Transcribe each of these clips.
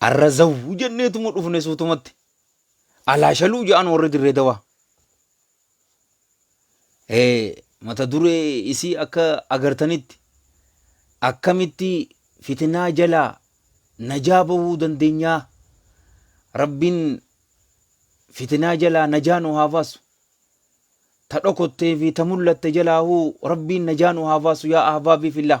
Arra zawwu jenneetuma dhufne suutumatti. Alaa shaluu ja'an warri dirree dawaa. Eh, mata duree isii akka agartanitti akkamitti fitinaa jalaa najaa bahuu dandeenyaa rabbiin fitinaa jalaa najaa nu haa baasu ta dhokottee fi ta mul'atte jalaahuu rabbiin najaa nu haa baasu yaa ahbaabii fillah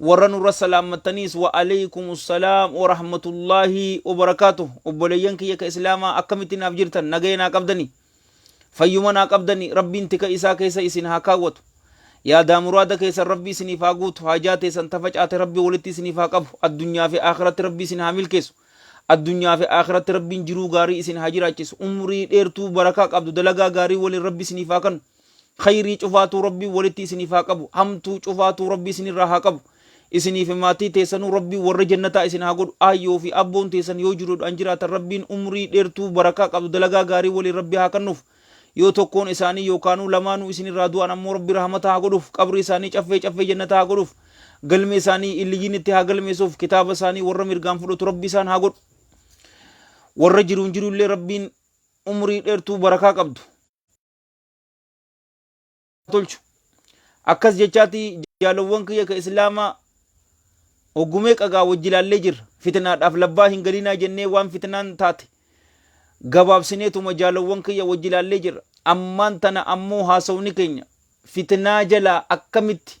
Warra nurra salaammattaniis wa aleykumu salaam wa rahmatullaahi wa barakaatuh. Obboleeyyan kiyya ka Islaamaa akkamitti naaf jirtan? Nagaya naa qabdanii? Fayyuma naa qabdanii? Rabbiin tika isaa keessa isin haa kaawwatu. Yaadaa muraada keessan Rabbi isiniif haa guutu. Haajaa teessan ta facaate Rabbi walitti isiniif haa qabu. Addunyaa fi Aakhiratti Rabbi isin haa milkeessu. Addunyaa fi Aakhiratti Rabbiin jiruu gaarii isin haa jiraachisu. Umrii dheertuu barakaa qabdu dalagaa gaarii waliin Rabbi isiniif haa kannu. Khayrii cufaatuu Rabbiin walitti isiniif haa qabu. Hamtuu cufaatuu Rabbi isinirraa haa qabu. Isinii fi maatii teessanuu Rabbiin warra jannataa isin haa godhu. Aayyoo fi abboon teessan yoo jiruudhaan jiraatan Rabbiin umrii dheertuu barakaa qabdu dalagaa gaarii waliin Rabbi haa kannuuf. Yoo tokkoon isaanii yookaanuu lamaanuu isinirraa du'an ammoo Rabbi rahmata haa godhuuf. Qabrii isaanii caffee caffee jannataa haa godhuuf. Galmee isaanii illiyyiinitti haa galmeessuuf. Kitaaba isaanii warra mirgaan fudhatu Rabbi isaan haa godhu. Warra jiruun jiru illee Rabbiin umrii dheertuu barakaa qabdu. tolchu akkas jechaati jaalowwan kiyya ka islaamaa hoggumee qagaa wajji ilaallee jirra fitinaadhaaf labbaa hin galinaa jennee waan fitinaan taate gabaabsineetuma jaalowwan kiyya wajji ilaallee jirra ammaan tana ammoo haasawni keenya fitinaa jalaa akkamitti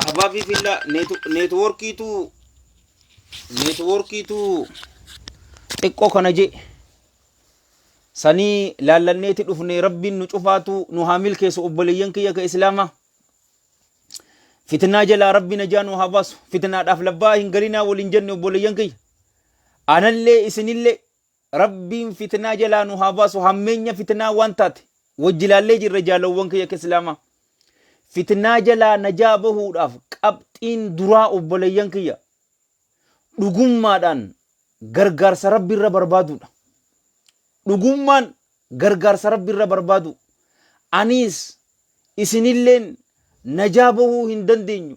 Ahbaa fi fillaa neetwoorkiitu neetwoorkiitu xiqqoo kana jee sanii laallanneeti dhufne rabbiin nu cufaatu nu haa milkeessu obboleeyyan kiyya ka islaamaa. Fitnaa jalaa rabbi najaa nu haa baasu. Fitnaadhaaf labbaa hin galinaa waliin jenne obboleeyyan kiyya. Anallee isinillee Rabbiin fitnaa jalaa nu haa baasu hammeenya fitnaa waan taate wajji ilaallee jirra jaalawwan kiyya akka islaamaa fitnaa jalaa najaa bahuudhaaf qabxiin duraa obboleeyyan kiyya dhugummaadhaan gargaarsa rabbi irra barbaaduudha dhugummaan gargaarsa rabbi irra barbaadu aniis isinilleen najaa bahuu hin dandeenyu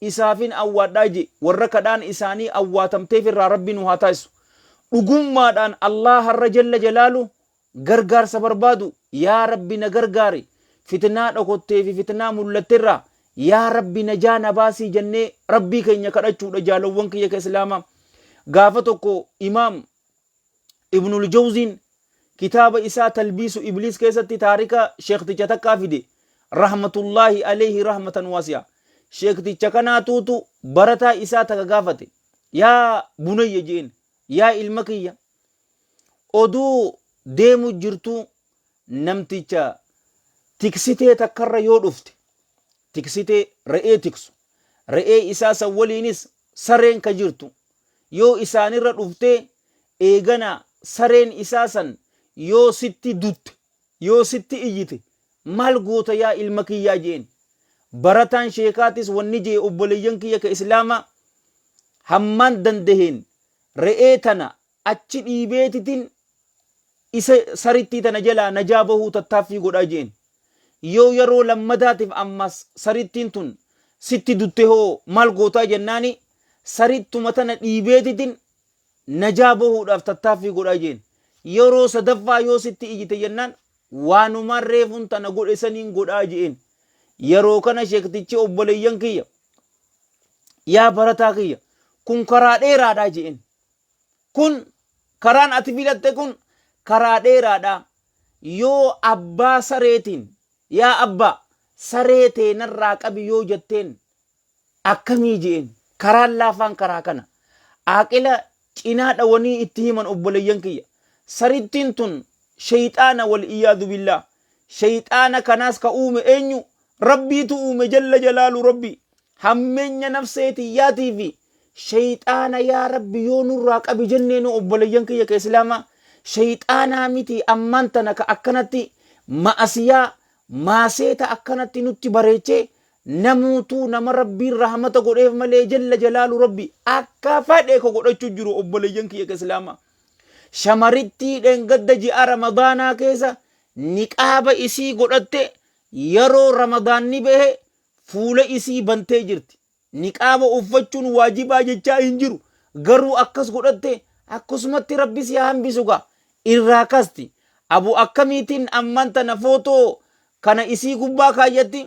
isaafin awwaadhaa je, warra kadhaan isaanii awwaatamteef irraa Rabbi nu haa taasisu. Dhugummaadhaan Allaaharra jalla jalaalu gargaarsa barbaadu, yaa Rabbi na gargaari, fitnaa dhokottee fi fitnaa mullatte irraa yaa Rabbi najaa na baasii jannee Rabbii keenya kadhachuudha jaalowwan kiyya ka Islaamaa. Gaafa tokko Imaam. Ibnul Jawziin kitaaba isaa Talbiisu Ibliis keessatti taarika sheekticha takkaa fide, rahmatullaahi aleyhi rahmatan waasi'a. Sheekticha kanaatuutu barataa isaa taka gaafate, Yaa bunayya je'een, Yaa ilma kiyya, oduu deemu jirtuu namticha tiksitee takkarra yoo dhufte, tiksitee re'ee tiksu, re'ee isaa san waliinis sareen ka jirtu, yoo isaan irra dhufte, eegana sareen isaa san yoo sitti dutte, yoo sitti iyyite, maal goota yaa ilma kiyyaa je'een. Barataan sheekaatis wanni je'e obboleeyyan kiyya ka Islaamaa hammaan dandaheen re'ee tana achi dhiibeetitin isa sarittii tana jalaa najaa bahuu tattaaffii godhaa je'een. Yoo yaroo lammadaatif ammas sarittiin tun sitti dutte hoo maal gootaa jennaani sarittuma tana dhiibeetitin najaa bahuudhaaf tattaaffii godhaa jeen. Yeroo sadaffaa yoo sitti ijite jennaan waanumaan reefun tana godhe saniin godhaa je'een. Yeroo kana sheektichi obboleeyyan kiyya yaa barataa kiyya kun karaa dheeraadhaa je'een. Kun karaan ati filatte kun karaa dheeraadhaa yoo abbaa sareetiin yaa abbaa saree teenarraa qabi yoo jetteen Akkamii je'een. Karaan laafaan karaa kana. Aaqila cinaa dhawanii itti himan obboleeyyan kiyya. Sarittiin tun sheyxaana wal iyaadu billaah. Sheyxaana kanaas ka uume eenyu? Rabbiitu uume jalla jalaalu Rabbi. Hammeenya nafsee tiyyaatii fi sheyxaana yaa Rabbi yoo nurraa qabi jenneenoo obboleeyyan kiyya ka Islaamaa. Sheyxaanaa miti ammaan tana ka akkanatti ma'asiyaa, maaseeta akkanatti nutti bareechee Namuutuu nama Rabbiin rahmata godheef malee jalla jalaalu Rabbi akka fadhe ka godhachu jiru obboleeyyan kiyya ka islaama. Shamarittii dhengadda ji'a Ramadaanaa keessa niqaaba isii godhatte yeroo Ramadaanni bahe fuula isii bantee jirti. Niqaaba uffachuun waajibaa jechaa hin jiru. Garuu akkas godhatte akkasumatti Rabbi si haa hambisu gaa. Irraa kasti. Abu akkamiitiin ammaan tana footoo kana isii gubbaa kaayyatti?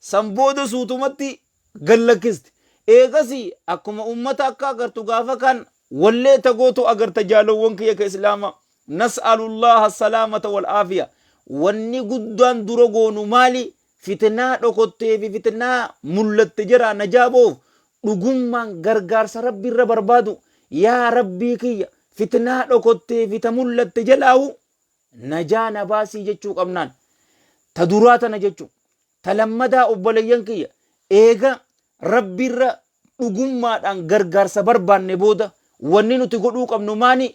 San booda suutumatti gad lakkisti. Eegasii akkuma ummata akka agartu gaafa kaan wallee ta gootu agarta jaalowwan kiyya ka islaamaa. Nas'alullaaha assalaamata wal aafiya. Wanni guddaan dura goonu maali? Fitnaa dhokottee fi fitnaa mullatte jaraa najaa bahuuf dhugummaan gargaarsa Rabbi irra barbaadu. Yaa Rabbii kiyya! Fitnaa dhokottee fi ta mullatte jalaahu Najaa na baasii jechuu qabnaan. Ta duraa tana jechuu. Ta lammadaa obboleeyyan kiyya eega rabbiirra dhugummaadhaan gargaarsa barbaanne booda wanni nuti godhuu qabnu maani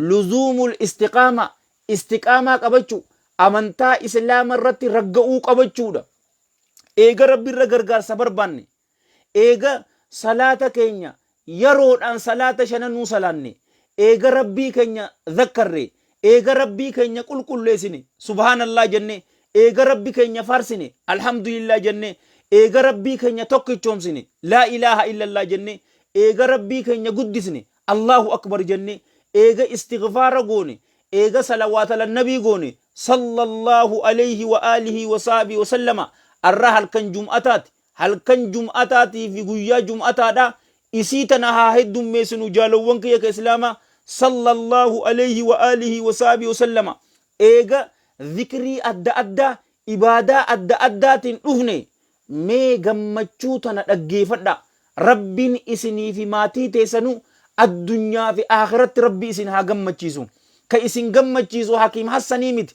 luzuumul istiqaamaa istiqaamaa qabachuu amantaa islaama irratti ragga'uu qabachuudha. Eega rabbiirra gargaarsa barbaanne Eega salaata keenya yaroodhaan salaata shananuu salaanne, eega Rabbii keenya zakkarre, eega Rabbii keenya qulqulleessine, subhaanallaah jenne, eega Rabbi keenya faarsine, alhamdulillaah jenne, eega Rabbii keenya tokkichoomsine, laa ilaaha illallaah jenne, eega Rabbii keenya guddisne, allaahu akbar jenne, eega istighfaara goone, eega salawaat alannabii goone, sallallaahu aleyhi wa aalihii wa sahbihi wa sallama, arra halkan jum'ataati, Halkan jum'ataatii fi guyyaa jum'ataadha, isii tana haa heddummeessinu jaalowwan kiyya ka islaamaa, Sallallaahu aleyhi wa aalihi wa sahbihi wa sallama, eega zikrii adda addaa, ibaadaa adda addaatiin dhufne, mee gammachuu tana dhaggeefadhaa, Rabbiin isinii fi maatii teessanuu addunyaa fi aakhiratti Rabbi isin haa gammachiisu, ka isin gammachiisu Hakiim Hassanii miti,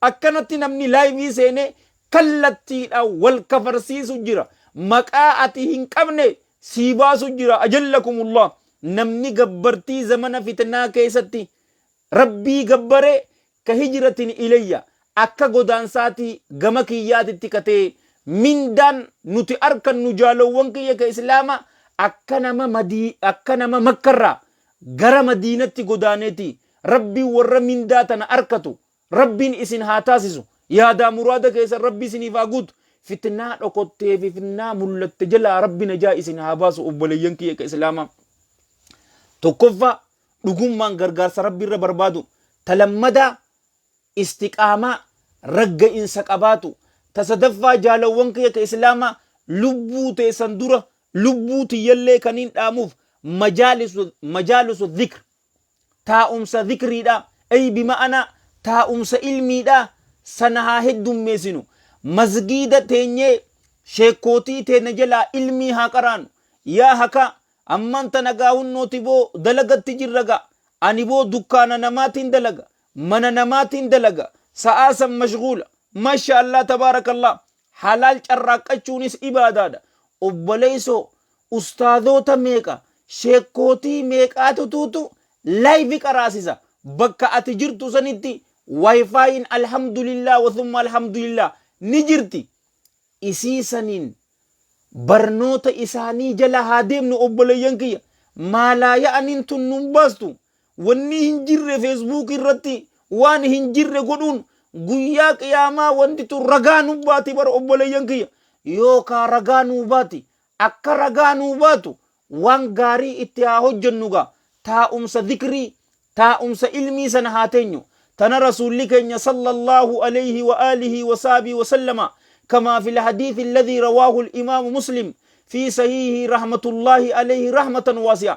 Akkanatti namni laayivii seenee kallattiidhaan wal kafarsiisu jira. Maqaa ati hin qabne sii baasu jira. Ajallakumullah. Namni gabbartii zamana fitnaa keessatti Rabbii gabbare ka hijratin ilayya akka godaansaatii gama kiyyaatitti ka ta'e mindaan nuti arkannu jaalowwan kiyya ka Islaama akka nama madii akka nama makkarraa gara madiinatti godaaneeti Rabbiin warra mindaa tana arkatu Rabbiin isin haa taasisu. Yaadaa muraada keessan Rabbi isiniif haa guutu. Fitnaa dhokottee fi fitnaa mullatte jalaa Rabbi najaa isin haa baasu obboleeyyan kiyya ka Islaamaa. Tokkoffaa dhugummaan gargaarsa Rabbi irra barbaadu. Ta lammadaa istiqaamaa ragga'insa qabaatu. Ta sadaffaa jaalawwan kiyya ka Islaamaa lubbuu teessan dura lubbuu tiyyallee kaniin dhaamuuf majaalisu dhikr taa'umsa zikriidha, ay bima'anaa taa'umsa ilmiidha, sana haa heddummeessinu. Masgiida teenyee sheekkootii teena jalaa ilmii haa qaraanu. Yaa hakaa! Ammaan tana gaa hunnooti boo dalagatti jirra gaa. Ani boo dukkaana namaatiin dalaga, mana namaatiin dalaga, sa'aa san mashguula. Masha Allah tabaarakallaah. Halaal carraaqqachuunis ibaadaadha. Obboleessoo ustaazoota meeqa, sheekkootii meeqaatutuutu live qaraasisa. Bakka ati jirtu sanitti wifi'n alhamdulillah wa thumma alhamdulillah ni jirti. Isii saniin barnoota isaanii jala haa deemnu obboleeyyan kiyya. Maalaa ya'aniin tun nun baastu. Wanni hin jirre Facebook irratti waan hin jirre godhuun guyyaa qiyaamaa wanti tun ragaa nu baati bara obboleeyyan kiyya yoo kaa ragaa nuu baati akka ragaa nuu baatu waan gaarii itti haa hojjennu gaa taa'umsa dhikrii taa'umsa ilmii sana haa teenyu tana rasuulli keenya sallallahu alayhi wa alihi wa saabii wa sallama kamaa fil hadiithi alladhii rawaahu al-imaamu muslim fi sahiihi rahmatullaahi alayhi rahmatan waasi'a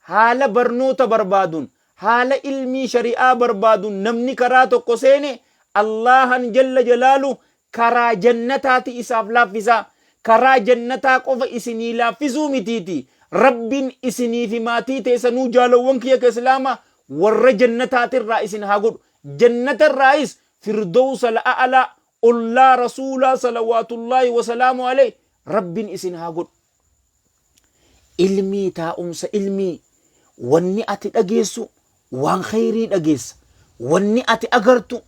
Haala barnoota barbaadun, haala ilmii shari'aa barbaadun namni karaa tokko seene Allaahan jalla jalaalu karaa jannataati isaaf laaffisaa. Karaa jannataa qofa isinii laaffisuu mitiiti Rabbin isinii fi maatii teesanuu jaalowwan kiyya ka Islaama warra jannataatirraa isin haa godhu. Jannatarraayis Firdowsal A'alaa ollaa rasuulaa salawaatullaahi wasalaamu aleeyhi rabbin isin haa godhu ilmii taa'umsa ilmii wanni ati dhageessu waan kheyrii dhageessa wanni ati agartu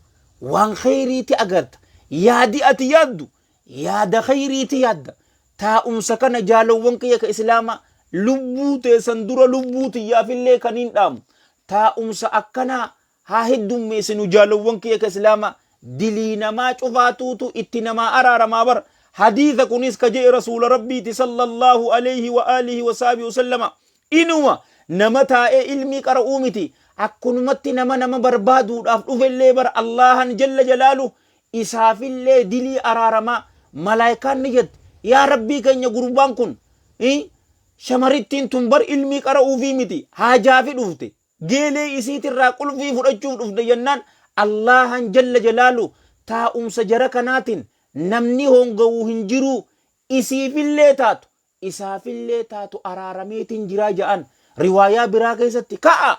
waan kheyriiti agarta yaadi ati yaaddu yaada kheyriiti yaadda taa'umsa kana jaalowwan kiyya ka islaamaa lubbuu teessan dura lubbuu tiyyaafillee kaniin dhaamu taa'umsa akkanaa haa heddummeessinu jaalowwan kiyya ka islaamaa dilii namaa cufaatuutu itti namaa araaramaa bar hadiisa kunis ka je'e rasuula rabbiiti sallallahu alayhi wa alihi wa sahbihi wasallama inuma nama taa'ee ilmii qara'uu miti akkunumatti nama nama barbaaduudhaaf dhufellee bar allaahan jalla jalaalu isaafillee dilii araaramaa malaayikaan ni jette yaa rabbii keenya gurbaan kun i shamarittiin tun bar ilmii qara'uufii miti haajaafi dhufte Geelee isiitirraa qulfii fudhachuuf dhufte jennaan Allaahaan jalla jalaaluh taa'umsa jara kanaatin namni hoongawu hin jiruu isiifillee taatu isaafillee taatu araarameetin jiraa ja'an. Riwaayaa biraa keessatti ka'aa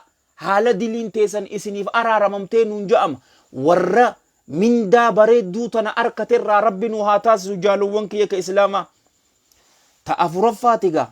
haala diliin teessan isiniif araaramamtee nuun ja'ama. Warra mindaa bareedduu tana arkaterraa Rabbi nu haa taasisu jaalowwan kiyya ka Islaamaa. Ta afuraffaati gaa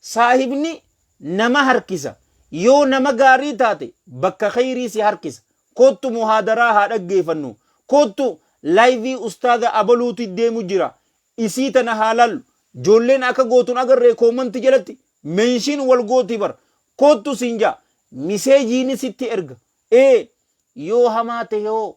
Saahibni nama harkisa. Yoo nama gaarii taate bakka kheyrii si harkisa. Koottu muhaadaraa haa dhaggeefannu. Koottu laayivii ustaaza abaluuti deemu jira. Isii tana haa laallu. Joolleen akka gootu hin agarree koomanti jalatti menshiin wal gooti bar. Koottu siin ja'a. Miseejiini sitti erga. Ee yoo hamaa tahe hoo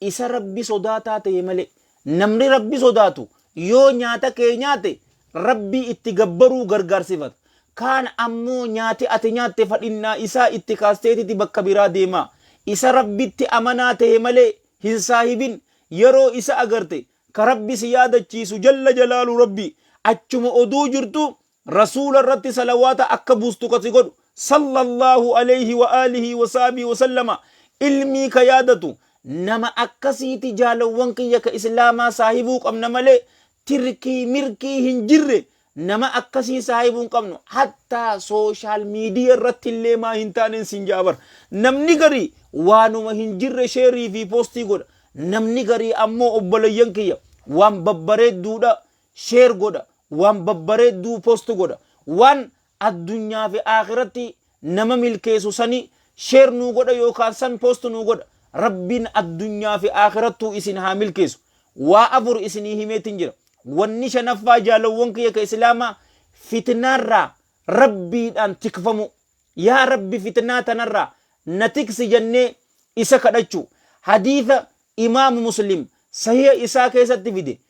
Isa Rabbi sodaataa ta'e malee. Namni Rabbi sodaatu yoo nyaata kee nyaate Rabbii itti gabbaruu gargaarsifata. Kaan ammoo nyaati ati nyaatte fadhinnaa isaa itti kaasteetiti bakka biraa deema. Isa Rabbitti amanaa ta'e malee hin saahibin. Yeroo isa agarte ka Rabbi si yaadachiisu jalla jalaalu Rabbi achuma oduu jirtuu Rasuula irratti salawaata akka buustu ka si godhu, Sallallaahu aleyhi wa aalihi wa sahbihi wa sallama, ilmii ka yaadatu, nama akkasiiti jaalawwan kiyya ka islaamaa saahibuu qabna malee tirkii mirkii hin jirre nama akkasii saahibuu hin qabnu hattaa social media irratti illee maa hin taanen sin ja'a bar namni garii waanuma hin jirre sheerii fi postii godha namni garii ammoo obboleeyyan kiyya waan babbareedduudha share godha waan babbareedduu post godha waan addunyaa fi aakhiratti nama milkeessu sani share nuu godha yookaan san post nuu godha rabbiin addunyaa fi aakhirattuu isin haa milkeessu waa afur isinii himeetin jira wanni shanaffaa jaalawwan kiyya ka islaamaa fitnaarraa rabbiidhaan tikfamuu yaa rabbi fitnaa tanarraa na tiksi jennee isa kadhachuu hadiisa imaamu muslim sahiha isaa keessatti fide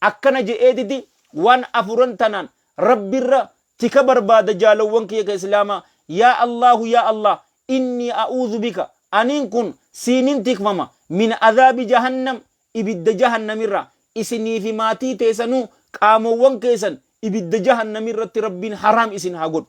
Akkana je'eetiti waan afuran tanaan Rabbirra tika barbaada jaalowwan kiyya ka Islaamaa, Yaa Allaahu yaa Allaah innii a'uudhu bika, aniin kun siinin tikfama, min azaabi jahannam ibidda jahannamirraa, isinii fi maatii teesanuu qaamowwan keessan ibidda jahannamirratti Rabbiin haraam isin haa godhu.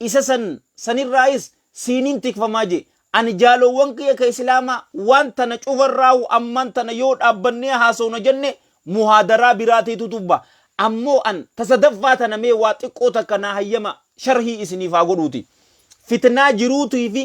Isa san, san irraayis siiniin tikfamaa je. Ani jaaloowwan kiyya ka Islaamaa waan tana cufa irraahu ammaan tana yoo dhaabbannee haasowna janne muhaadaraa biraa teetu tubba. Ammoo an ta sadaffaa tana mee waa xiqqoo takka naa hayyama sharhii isiniif haa godhuuti. Fitnaa jiruutii fi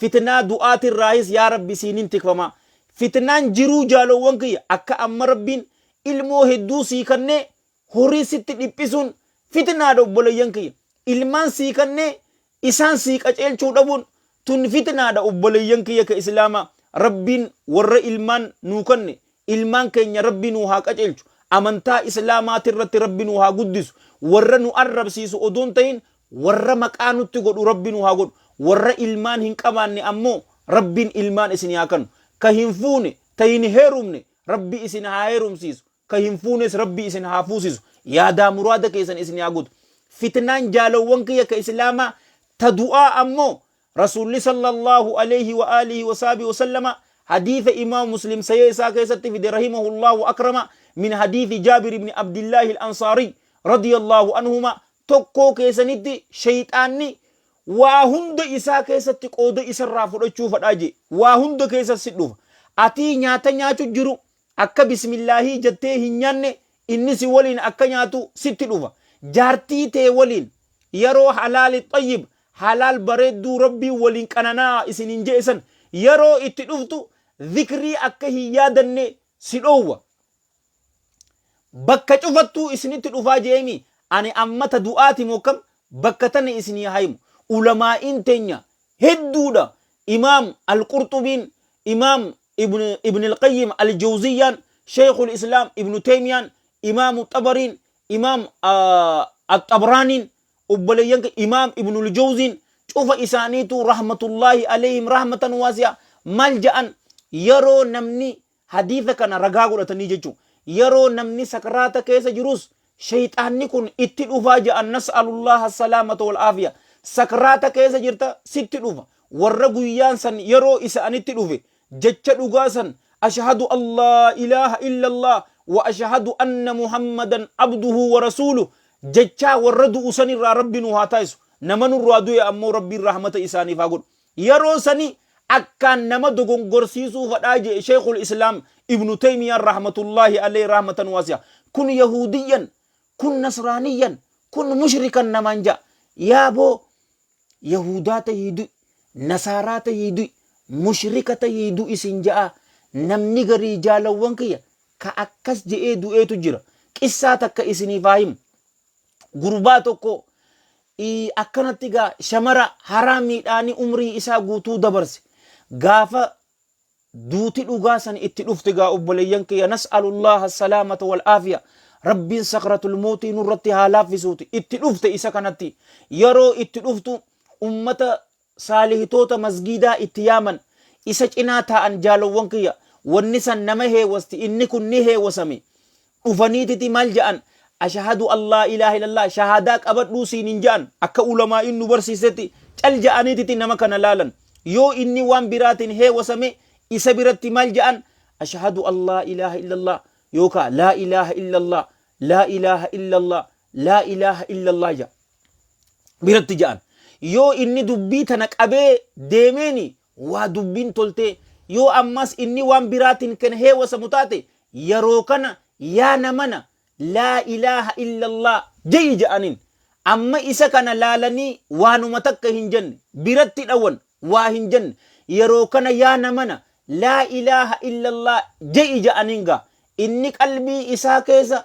fitnaa du'aati irraahis yaa Rabbi siiniin tikfamaa. Fitnaan jiruu jaaloowwan kiyya akka amma Rabbiin ilmoo hedduu sii kannee Horii sitti dhiphisuun fitnaadha obboleeyyan kiyya. Ilmaan sii kannee isaan sii qaceelchuu dhabuun tun fitnaadha obboleeyyan kiyya ka Islaamaa. Rabbiin warra ilmaan nuu kanne ilmaan keenya Rabbi nuu haa qaceelchu. Amantaa Islaamaatirratti Rabbi nuu haa guddisu. Warra nu arrabsiisu odoo hin tahin warra maqaa nutti godhu Rabbi nu haa godhu. Warra ilmaan hin qabaanne ammoo Rabbiin ilmaan isinii haa kannu. Ka hin fuune, ta hin heerumne Rabbi isin haa heerumsiisu. ka hin fuunes rabbi isin haa fuusisu yaadaa muraada keessan isin haa guutu fitnaan jaalowwan kiyya ka islaamaa ta du'aa ammoo rasuulli sallallahu alayhi wa alihi wa sahbihi wa sallama hadiisa imaam muslim sayee isaa keessatti fide rahimahullah wa akrama min hadiisi jaabir ibni abdillaahi al-ansaari radiyallahu anhuma tokkoo keessanitti shayxaanni waa hunda isaa keessatti qooda isarraa fudhachuu fadhaa jee waa hunda keessa si dhufa atii nyaata nyaachu jiru Akka bismillaahii jettee hin nyaanne inni si waliin akka nyaatu sitti dhufa. Jaartii tee waliin yeroo halaali xayyib, halaal bareedduu Rabbiin waliin qanana'aa isiniin je'e san yeroo itti dhuftu zikrii akka hin yaadanne si dhoowwa. Bakka cufattuu isinitti dhufaa je'eemii ani amma ta du'aati moo kam bakka tana isinii haa himu. Ulamaa'iin teenya hedduudha. Imaam Al-Qurxubiin Imaam ibn ibn Al-Qayyim Al-Jawziyyaan, Shaykhul Islaam Ibn Taymiyaan, Imaamu Xabariin, Imaam Al-Xabraaniin, obboleeyyan ke Imaam Ibn Al-Jawziin cufa isaaniituu rahmatullaahi alayhim rahmatan waasi'a maal ja'an yeroo namni hadiisa kana ragaa godhatanii jechuun yeroo namni sakraata keessa jirus Sheyxaanni kun itti dhufaa ja'an nas'alullaaha salaamata wal aafiya. Sakraata keessa jirta sitti dhufa. Warra guyyaan san yeroo isa'anitti dhufe jecha dhugaa san Ashahadu an laa ilaaha illallah wa ashahadu anna Muhammadan abduhu wa rasuuluh jechaa warra du'u sanirraa Rabbi nu haa taasisu. Nama nurraa du'e ammoo Rabbiin rahmata isaaniif haa godhu. Yeroo sani akkaan nama dogongorsiisuu fadhaa je'e Sheykhul Islaam Ibnu Teymiyaan rahmatullaahi aleyhi rahmatan waasi'a. Kun Yahuudiyyan, kun Nasraaniyyan, kun Mushrikan namaan ja'a. Yaaboo Yahuudaa tahii du'i, Nasaaraa tahii du'i, Mushrika tahii du'i sin ja'aa. Namni garii jaalawwan kiyya ka akkas je'ee du'eetu jira. Qissaa takka isiniif haa himu. Gurbaa tokko i akkanatti gaa shamara haraa miidhaani umrii isaa guutuu dabarse gaafa duuti dhugaa san itti dhufte gaa obboleeyyan kiyya nas'alullaha salaamata wal aafiya rabbiin sakratul mootii nurratti haa laaffisuuti itti dhufte isa kanatti yeroo itti dhuftu ummata saalihtoota masgiidaa itti yaaman isa cinaa taa'an jaalowwan kiyya wanni san nama heewasti inni kun ni heewasame dhufaniititi maal ja'an ashahadu allaa ilaaha illallah shahaadaa qabadhuu siin hin ja'an akka ulamaa'iin nu barsiistetti cal ja'aniititi nama kana laalan yoo inni waan biraatiin heewasame isa biratti maal ja'an ashahadu allaa ilaaha illallah yookaa laa ilaaha illallah laa ilaaha illallah laa ilaaha illallah ja'a biratti ja'an yoo inni dubbii tana qabee deemeeni waa dubbiin toltee yoo ammas inni waan biraatiin kan heewasamu taate yeroo kana yaa namana laa ilaaha illallah ja'i ja'aniin amma isa kana laalanii waanuma takka hin jenne biratti dhawan waa hin jenne yeroo kana yaa namana laa ilaaha illallah ja'i ja'aniin gaa inni qalbii isaa keessa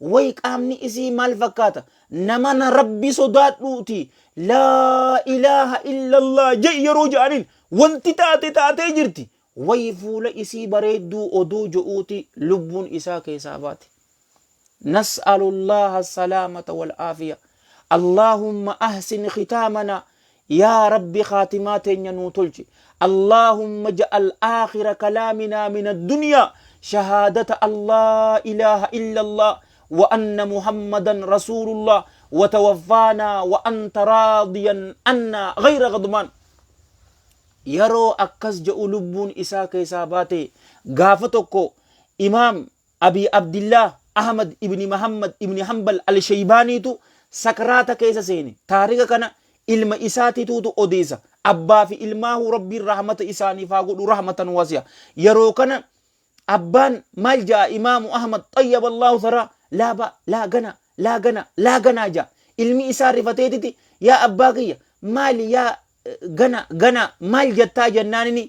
Way qaamni isii maal fakkaata? Namana rabbi sodaadhuuti laa ilaaha illallah je'i yeroo ja'aniin wanti taate taatee jirti. Way fuula isii bareedduu odoo jo'uuti lubbuun isaa keesaa baate. Nas'alullaaha salaamata wal aafiya. Allaahumma ahsin khitaamanaa Yaa Rabbi khaatimaa teenya nuu tolchi. Allaahumma ja'al aakhira kalaaminaa min addunyaa shahaadata Allaa ilaaha illallaa wa anna Muhammadan rasuulullaah wa tawaffaanaa wa anta raadiyan annaa ghayra ghadbaan. Yaroo akkas ja'u lubbuun isaa keessaa baate gaafa tokko Imaam Abii Abdillaah Ahmad ibni Mahammad ibni Hanbal Al-Sheybaaniitu sakraata keessa seene. Taarika kana ilma isaatituutu odeessa. Abbaa fi ilmaahuu Rabbiin rahmata isaaniif haa godhu rahmatan wasi'a. Yeroo kana abbaan maal ja'a Imaamu Ahmad xayyaballaah tharaa laa ba, laa gana, laa gana, laa ganaa ja'a. Ilmi isaa rifateetiti yaa abbaa kiyya maali yaa gana gana maal jettaa jennaan inni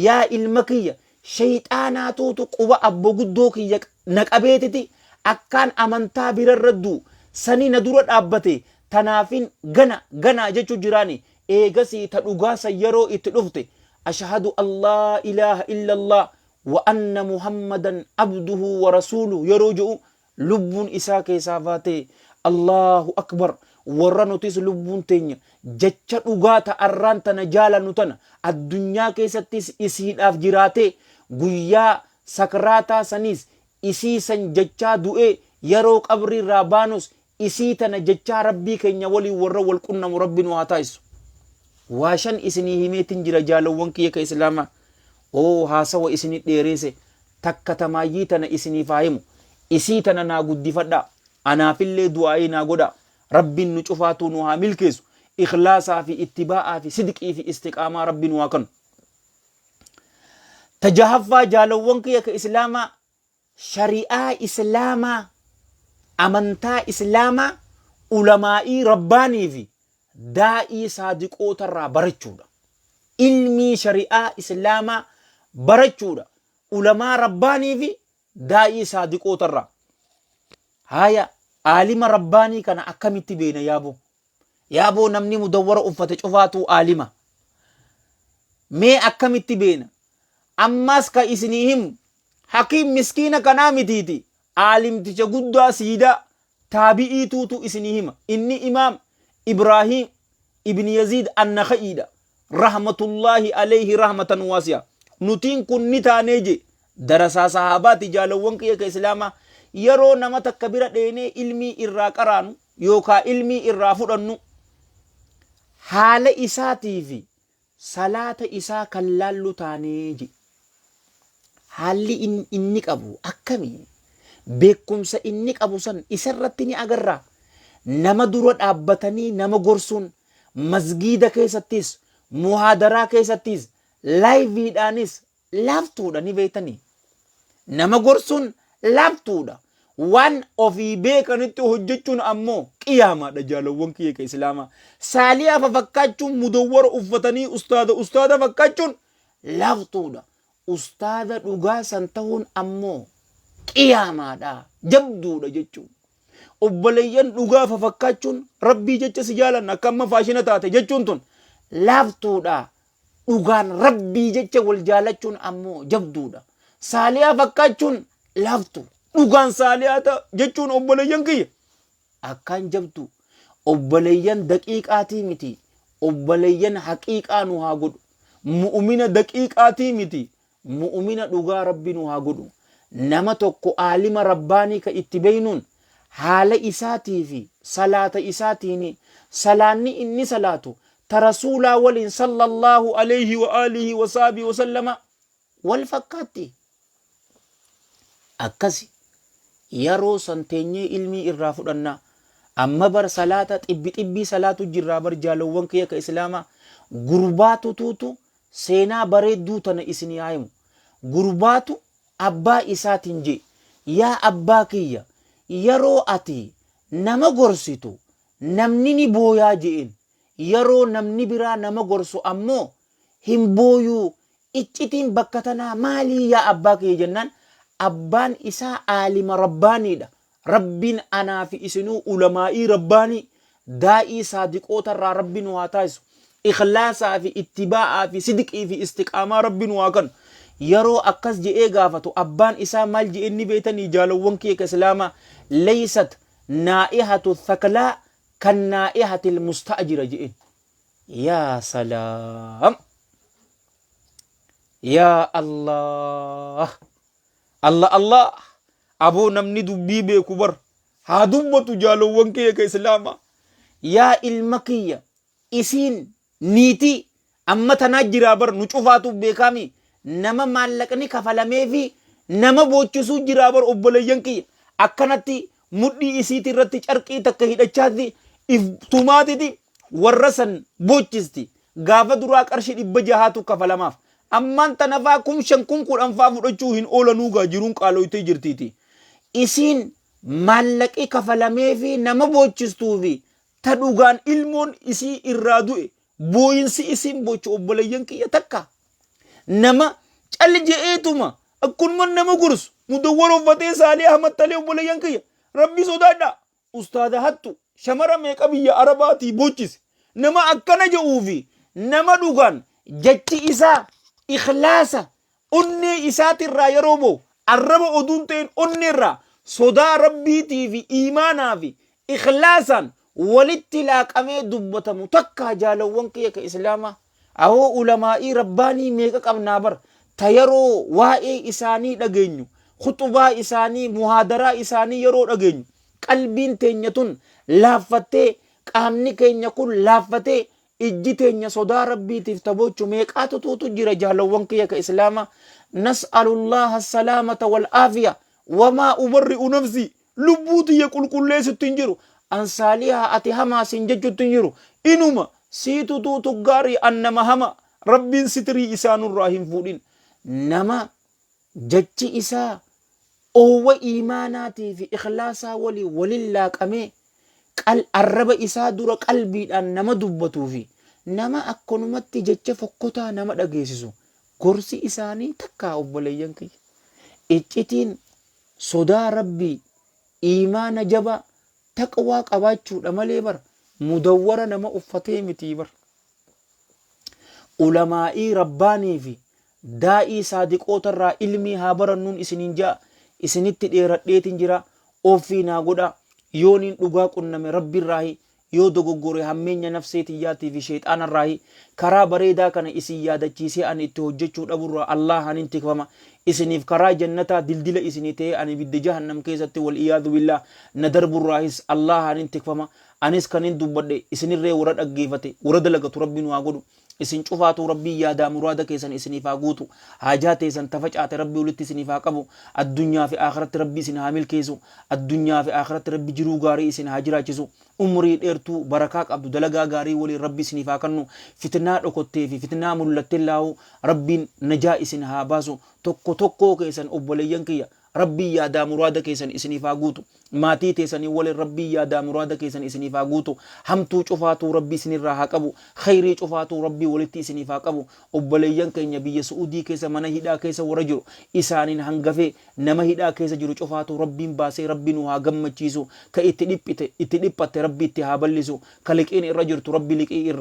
yaa ilma kiyya shayxaanaatuutu quba abbo guddoo kiyya na qabeetiti akkaan amantaa birarra du sani na dura dhaabbate tanaafin gana ganaa jechu jiraani eegasii ta dhugaa san yeroo itti dhufte ashahadu allaa ilaaha illallaa wa anna muhammadan abduhu wa rasuulu yeroo je'u Lubbuun isaa keesaa baatee Allaahu Akbar warra nutis lubbuun teenya jecha dhugaa ta arraan tana jaalannu tana addunyaa keessattis isiidhaaf jiraatee guyyaa sakraataa saniis isii san jechaa du'ee yaroo qabriirraa baanus isii tana jechaa Rabbii keenya waliin warra wal qunnamu Rabbi nu haa taasissu. Waa shan isinii himeetin jira jaalowwan kiyya ka Islaamaa. Oo haasawa isini dheereese takka ta maayyii tana isiniif haa himu isii tana naa guddifadhaa anaafillee du'aa'ii naa godhaa rabbiin nu cufaatuu nu haa milkeessu ikhlaasaa fi ittibaa'aa fi sidqii fi istiqaamaa rabbi nu haa kanu ta jahaffaa jaalawwan kiyya ka islaamaa shari'aa islaamaa, amantaa islaamaa ulamaa'ii rabbaanii fi daa'ii saadiqoota irraa barachuudha. Ilmii shari'aa islaamaa barachuudha. Ulamaa rabbaanii fi daa'ii saadiqoota irraa. Haaya, aalima rabbaanii kana akkamitti beeyna yaaboo? Yaaboo namni mudawwara uffate cufaatuu aalima. Mee akkamitti beeyna? Ammaas ka isinii himu Hakiim miskiina kanaa mitiiti aalimticha guddaa siidaa taabi'ii tuutu isinii hima inni imaam Ibraahiim ibn Yaziid Annakha'iidha rahmatullaahi aleeyhi rahmatan waasi'a nutiin kun ni taanee jee darasaa sahaabaati jaalawwan kiyya ka islaamaa yeroo nama takka bira dheenee ilmii irraa qaraanu yookaa ilmii irraa fudhannu haala isaatiifi salaata isaa kan laallu taane ji. Haalli inni qabu akkami? Beekumsa inni qabu san isa irratti ni agarra. Nama dura dhaabbatanii nama gorsuun masgiida keessattis, muhaadaraa keessattis, laayiviidhaanis laaftuudha ni beektanii. Nama gorsuun laaftuudha. Waan ofii beekanitti hojjechuun ammoo qiyaamaadha jaalawwan kiyya ka islaamaa. Saaliyaa fafakkaachuun mudawwara uffatanii ustaada ustaada fakkaachuun laaftuudha. Ustaada dhugaa san tahuun ammoo qiyaamaadha jabduudha jechuun. Obboleeyyan dhugaa fafakkaachuun rabbii jecha si jaalanna akka amma faashina taate jechuun tun laaftuudha. Dhugaan rabbii jecha wal jaalachuun ammoo jabduudha. Saaliyaa fakkaachuun laaftu. Dhugaan saaliyaa ta jechuun obboleeyyan kiyya. Akkaan jabdu. Obboleeyyan daqiiqaatii miti. Obboleeyyan haqiiqaa nu haa godhu. Mu'umina daqiiqaatii miti. Mu'umina dhugaa rabbi nu haa godhu. Nama tokko aalima rabbaanii ka itti beeynuun haala isaatii fi salaata isaatiini. Salaanni inni salaatu ta rasuulaa waliin sallallaahu aleeyhi wa aalihi wa sahbihi wa sallama wal fakkaatti. Akkasi. Yaroo san teenyee ilmii irraa fudhanna. Amma bar salaata xibbi xibbii salaatu jirraa bar jaalowwan kiyya ka islaamaa. Gurbaa tutuutu Seenaa bareedduu tana isinii haa himu. Gurbaatu abbaa isaatiin je'e, Yaa abbaa kiyya yaroo ati nama gorsitu namni ni booyaa je'een. Yaroo namni biraa nama gorsu ammoo hin booyuu. Iccitiin bakka tanaa maalii yaa abbaa kiyya jennaan, abbaan isaa aalima Rabbaaniidha. Rabbiin anaa fi isinuu ulamaa'ii rabbaanii, daa'ii saadiqoota irraa Rabbi nu haa taasisu. Ikhlaasaa fi ittibaa'aa fi sidqii fi istiqaamaa Rabbi nu haa kanu. Yeroo akkas je'ee gaafatu abbaan isaa maal je'e inni beeytanii jaalawwan kiyya ka Islaamaa? Leeysat naa'ihatu thaklaa kan naa'ihatil musta'jira je'een. Yaa salaam! Yaa Allaah! Alla Allaah! Aboo namni dubbii beeku bar haa dubbatu jaalowwan kiyya ka islaama. Yaa ilma kiyya isiin niitii amma tanaa jiraa bar nu cufaatuu beekaami nama maallaqni kafalameefi nama boochisuu jiraa bar obboleeyyan kiyya akkanatti mudhii isiiti irratti carqii takka hidhachaatti if tumaatiti warra san boochisti gaafa duraa qarshi dhibba jahaatu kafalamaaf Ammaan tana faa kum shan kum kudhan faa fudhachuu hin oolanuu gaa jiruun qaaloytee jirtiitii. Isiin maallaqi kafalameefii nama boochistuu fi ta dhugaan ilmoon isii irraa du'e booyinsi isiin boochu obboleeyyan kiyya takka nama cal je'eetuma akkunuman nama gorsu mudawwara uffatee saalee hamattalee obboleeyyan kiyya rabbi sodaadhaa Ustaaza hattu shamara meeqa biyya arabaatii bochise nama akkana je'uu fi nama dhugaan jachi isaa ikhlaasa onnee isaatirraa yeroo bahu arraba oduun ta'in onneerraa sodaa rabbiitii fi iimaanaa fi ikhlaasaan walitti laaqamee dubbatamu takkaa jaalawwan kiyya ka islaamaa Awoo ulamaa'ii rabbaanii meeqa qabnaa bar ta yeroo waa'ee isaanii dhageenyu khuxubaa isaanii muhaadaraa isaanii yeroo dhageenyu qalbiin teenya tun laaffattee qaamni keenya kun laaffatee ijji teenya sodaa rabbiitiif taboochu meeqaatu tuutu jira jaalawwan kiyya ka islaama nas'alullaha salaamata wal aafiya wamaa ubarri'u nafsii Lubbuu tiyya qulqulleessutti hin jiru. An saaliha, ati hamaa siin jechutti hin jiru. Inuma, siitu tuutu gaarii, an nama hamaa. Rabbiin sitirii isaa nurraa hin fuudhin. Nama jechi isaa oowwa iimaanaatii fi ikhlaasaa waliin waliin laaqamee, qal arraba isaa dura qalbiidhaan nama dubbatuu fi nama akkanumatti jecha fokkotaa nama dhageessisu, gorsi isaanii takkaa obboleeyyan kiyya. Iccitiin Sodaa Rabbii, iimaana jabaa, taqwaa qabaachuudha malee bar mudawwara nama uffatee mitii bar. Ulamaa'ii Rabbaanii fi daa'ii saadiqoota irraa ilmii haa barannuun isiniin ja'a, isinitti dheeradheetiin jira, offii naa godhaa, yooniin dhugaa qunname Rabbi irraahi Yoo dogoggore hammeenya nafsee tiyyaatii fi sheyxaanarraahi. Karaa bareedaa kana isin yaadachiisee ani itti hojjachuu dhaburraa Allaahaan hin tikfama. Isiniif karaa jannataa dildila isinii ta'ee ani ibidda jahannam keessatti wal iyaadhu billaah na darburraahis Allaahaan hin tikfama. Anis kanin dubbadhe isinirree warra dhaggeefate, warra dalagatu Rabbi nu haa godhu. Isin cufaatuu Rabbiin yaadaa muraada keessan isiniif haa guutu. Haajaa teessan ta facaate Rabbi walitti isiniif haa qabu. Addunyaa fi aakhiratti Rabbi isin haa milkeessu. Addunyaa fi aakhiratti Rabbi jiruu gaarii isin haa jiraachisu. Umrii dheertuu barakaa qabdu dalagaa gaarii waliin Rabbi isiniif haa kannu. Fitnaa dhokottee fi fitnaa mullattellaahu Rabbiin najaa isin haa baasu. Tokko tokkoo keessan obboleeyyan kiyya Rabbiin yaadaa muraada keessan isiniif haa guutu. Maatii teesanii walin Rabbiin yaadaa muraada keessan isiniif haa guutu. Hamtuu cufaatuu Rabbi isinirraa haa qabu. Kheyrii cufaatuu Rabbi walitti isiniif haa qabu. Obboleeyyan keenya biyya Su'uudii keessa mana hidhaa keessa warra jiru isaanin hangafee nama hidhaa keessa jiru cufaatuu Rabbiin baasee Rabbi nu haa gammachiisu. Ka itti dhiphite, itti dhiphatte Rabbi itti haa ballisu. Ka liqiin irra jirtu Rabbi liqii irraa.